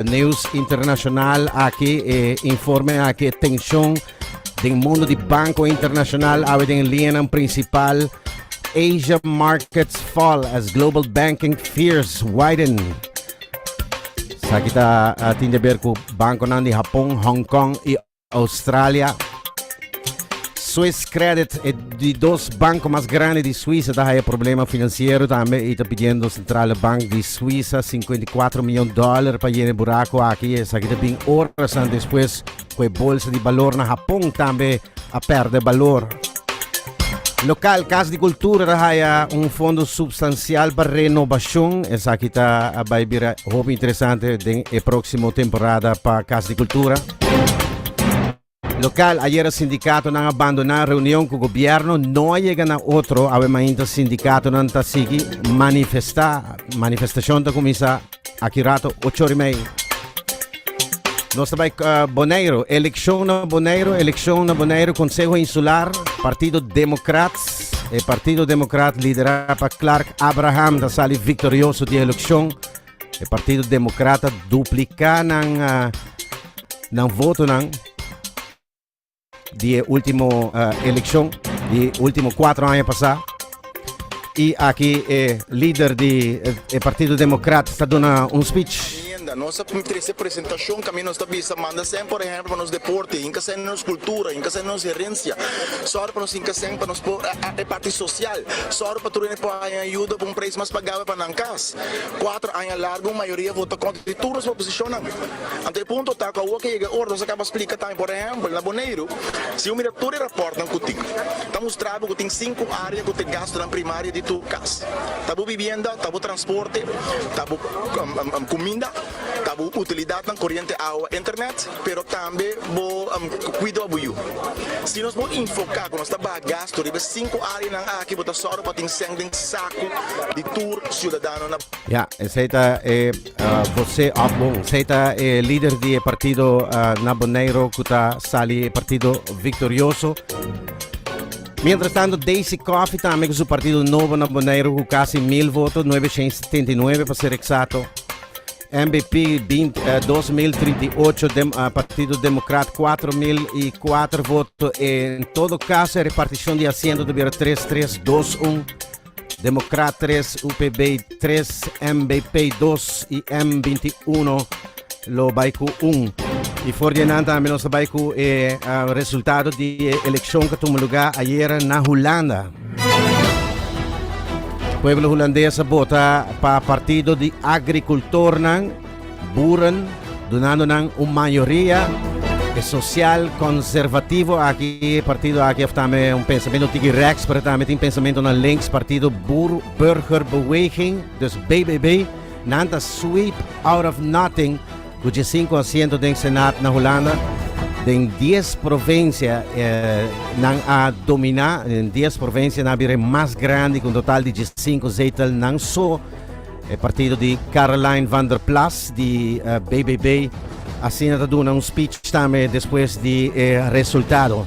News internacional aki e informe aki tension den mundo di banco internacional awe den lianan principal Asia markets fall as global banking fears widen. Sa kita uh, tin de ber ku bankonan di Japon, Hong Kong i Australia. Swiss Credit, e di dos banko mas grandi di Suisa ta haya problema finansiero tambe i ta pidiendo Sentrale Bank di Suisa 54 miyon dòler pa yena e burako aki. Esaki ta bin orasan despues ku e bolsa di balor na Hapon tambe a pèrdè balor. Lokal Kas di Kultura ta haya un fondo supstansial pa renobashon. Esaki ta bai bira hopi interesante den e próksimo temporada pa Kas di Kultura. Local, Ayer e sindicatonan a bandona reunion cu gobierno, no a yega na otro, awe mainta sindicatonan ta sigui manifesta. Manifestacion ta cuminsa aki rato ocho ora y mei. Nos ta bay uh, Bonaire, eleccion na Bonaire, eleccion na Bonaire, Consejo Insular, Partido Democrats. E Partido Democrat lidera pa Clark Abraham ta sali victorioso di eleccion. E Partido Democrata duplica nan, uh, nan voto nan di e ultimo uh, eleccion, di ultimo cuatro años pasá. Y aquí e líder di e Partido Democrata está dando un speech agenda. Nos trece presentación que nos está visa manda sen, por ejemplo, nos deporte, inca sen nos cultura, inca sen nos herencia. Sor para nos inca sen para nos por parte social. Sor para tu por ayuda para un precio más pagado para nan cas. Cuatro aña largo un mayoria vota contra di tur nos proposicionnan. Anto e punto ta cu awor ke yega e ora nos a caba splica tambe. Por ehempel, na Boneiru, si bo mira tur e raportnan cu tin, ta mustra bo cu tin cinco area cu ta e gastonan primario di tur cas. Ta bo bibienda, ta bo transporte, ta bo cuminda, ta bo utilidadnan, coriente, awa, internet. Pero tambe bo cuido bo yu. Si nos por enfoca cu nos ta baha gasto riba e cinco areanan aki bo ta zorgo pa tin seng den sacu di tur ciudadanonan. Ya, esey ta e voce of, bon, esey ta e lider di e partido na Boneiru cu ta sali e partido victorioso. Mientras tanto Daisy Coffee tambe cu su partido nobo na Boneiru cu casi mil voto, nuebe shen setenta y nuebe pa ser exacto. NBP bint dos mil trinta i ocho dem ah, Partido Democrat cuatro mil y cuatro voto en todo caso el repartición de asiento tuviera tres tres dos un Democrat tres UPB tres NBP dos y M veinte uno lo bai cu un y voor die nan también nos bai cu eh, ah, resultado de elección que tuvo lugar ayer na Holanda. Pueblo Hulandes a bota pa Partido di Agricultornan, Boeren, dunando nan un mayoria. E social conservativo aki, e partido aki of tambe un pensamiento tiki rechts, pero tambe tin pensamentonan links, Partido Boer Burgerbeweging, dus BBB, nan ta sweep out of nothing, Ku dje sinku asiento den Senat na Hulanda, den dies provinsia nan a dominá, den dies provinsia nan a bira e mas grandi ku un total di dje sinku zetelnan so. E partido di Caroline van der Plas di BBB asina ta duna un spich tambe despues di e resultado.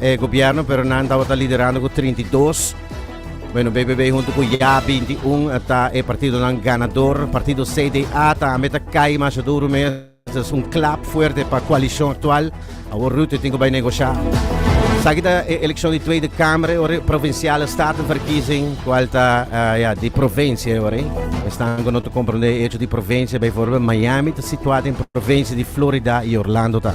e gobierno, pero nan tabata liderando ku 32. Bueno, BBB hunto ku Ya 21 ta e partido nan ganador. Partido CDA tambe ta kai masha duro mes. Es un klap fuerte pa koalishon aktual. Awor Rutte tin ku bai negosha. Saki ta e elekshon di Tweede Kamer e ora, provinsiale statenverkiezing, kual ta eh, ya di provinsia e ora. Esnan ku no ta komprende e echo di provinsia, bijvoorbeeld Miami ta situá den provinsia di Florida i Orlando ta.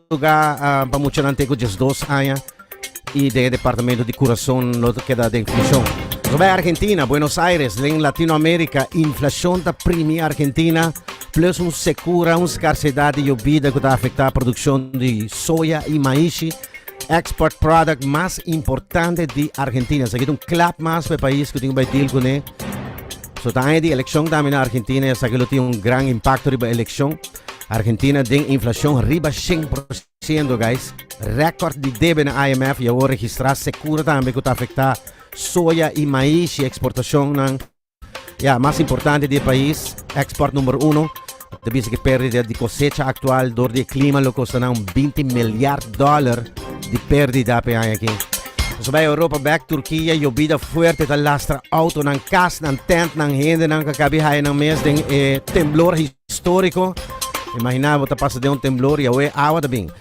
lugá pa muchanan te ku diesdos aña i den e departamento di kurason lo ta keda den prishon. Nos bai Argentina, Buenos Aires, den Latinoamerika inflashon ta primi Argentina plus un sekura un skarsedat di yobida ku ta afektá produkshon di soya i maishi, export product mas importante di Argentina. Esaki ta un klap mas pa e pais ku tin ku bai deal kuné. So ta aña di elekshon tambe na Argentina i esaki lo tin un gran impakto riba elekshon. Argentina den inflacion riba shen por ciento guys. Record di debe na IMF y awor registra secura tambe cu ta afecta soya y maish y exportacionnan ya mas importante di e pais export number uno ta bisa cu perdida di cosecha actual door di e clima lo costa nan binti milyard dollar di perdida p'e aña aki. Nos bay Europa bek, Turquia yobida fuerte ta lastra autonan, casnan, tentnan, hendenan ca cabi haya nan mes den e temblor Storico, Imagina bo ta pasa den un temblor y awe awa ta bin.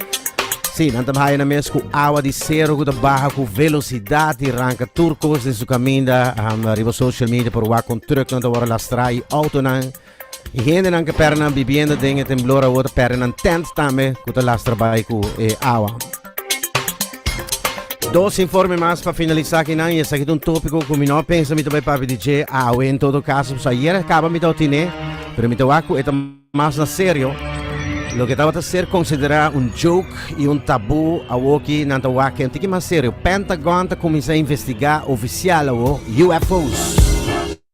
Sí, nan ta bahaya nan mes cu awa di cero cu ta baha cu velocidad y ranca tur cos den su caminda. Riba social media por wak con trucknan ta wor lastra y autonan y hendenan ke perde nan bibienda den e temblor awo ta perde nan tent tambe cu ta lastra bay cu e awa. Dos informe mas pa finalisa akinan y esaki ta un topico cu mi no a pensa mi ta bay papia di dje awe. En todo caso, pues ayer a caba mi tawata tine, pero mi ta wak cu e ta mas na serio. Loke tabata ser considera un joke y un taboo awoki nan ta wak un tiki mas serio. Pentagon ta cuminsa investiga oficial awo UFO's.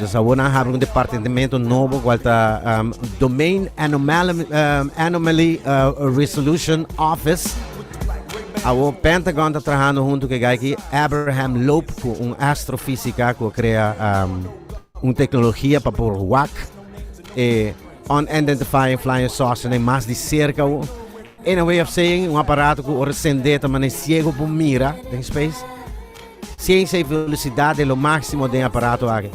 Dus awor nan habla un departentementu nobo kual ta um, Domain Anomaly, um, Anomaly uh, Resolution Office. Awor Pentagon ta trahando hunto ke gaiki Abraham Loeb ku un astrofísika ku krea um, un teknologia pa por wak e unidentified flying saucer ne mas di cerca o in a way of saying un aparato ku ora sende ta mane ciego por mira den space. Siensia i velosidat den lo máksimo den aparato aki.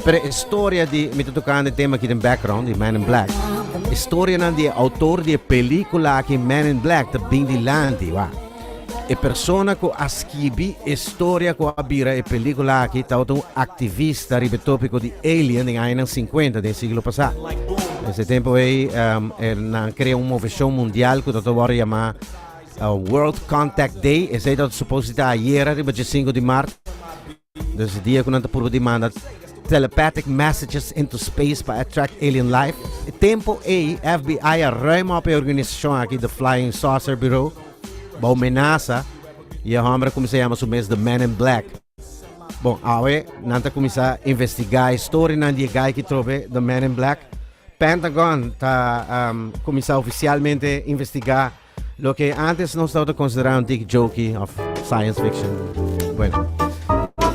Pero e storia di, mi ta tokando e tema aki den background, di Man in Black. E storianan di e outor di e pelíkula aki Man in Black ta bin di lanti, wak. E persona ku a skibi e storia ku a bira e pelíkula aki tabata un aktivista riba e tópiko di alien den añanan sinkuenta den e siglo pasá. Des e tempu ei, e nan krea un moveshon mundial ku ta wòrdu yamá World Contact Day, esei ta suposo di ta ayera riba dje sinku di mart. Des e dia ku nan ta purba di manda telepathic messages into space pa attract alien life. E tempu ei FBI a ruima op e organisashon aki The Flying Saucer Bureau bou menasa i e hòmber a kuminsá yama su mes The Man in Black. Bon, awe nan ta kuminsá investigá e storinan di e gai ki trobe The Man in Black. Pentagon ta kuminsá ofisialmente investigá. Loke antes nos tabata considera un tik joki of science fiction. Bueno.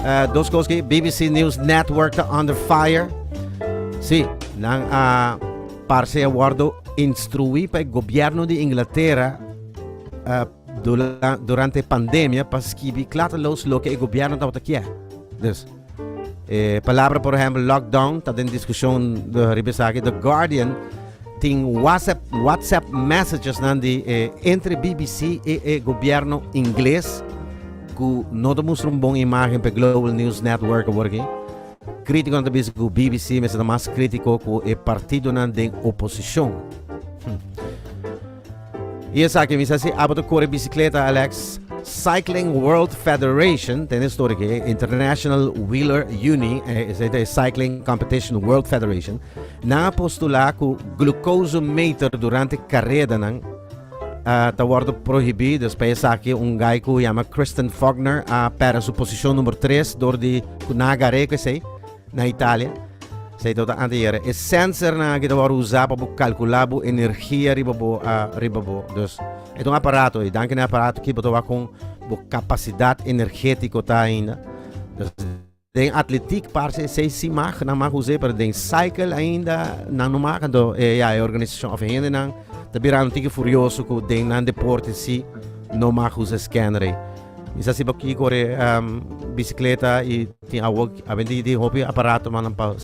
Uh, dos cosas que BBC News Network ta under fire. Sí, nan a uh, parse a wordo instruí pa el gobierno de Inglaterra uh, durante pandemia pa skibi klata los lo que el gobierno tabata kia. Dus E palabra por ehempel lockdown ta den diskushon riba esaki. The Guardian tin WhatsApp, WhatsApp messages nan di e, entre BBC e e gobierno ingles ku no ta mustra un bon imagen pe Global News Network awor aki. Kritikonan ta bisa ku BBC mester ta mas kritiko ku e partidonan den oposishon. I esaki mi sa si abo ta kore bisikleta Alex. Cycling World Federation, tene stori ke International Wheeler Uni, esei ta e Cycling Competition World Federation, nan a postulá ku glukosemeter durante karedanan ta wòrdu prohibí despues esaki un gai ku yama Kristen Faulkner a pèrdè su posishon number tres dor di ku nan a gar'é ku esei. Na Italia, sa e tabata anteayer, e sensernan aki ta wòrdu usá pa bo kalkulá bo energia riba bo, riba bo. Dus, e ta un aparato, i danki na e aparato aki bo ta wak kon bo kapasidat energétiko ta ainda. Dus, den atletik parse e seis simag nan mag us'é, pero den cycle ainda nan no mag. Anto, e ya, e organisashon òf e hendenan ta bira un tiki furioso ku den nan deporte sí no mag usa e skèner ei. Is a siba kiko ora e bisikleta i tin awor a bini di hopi aparatonan pa.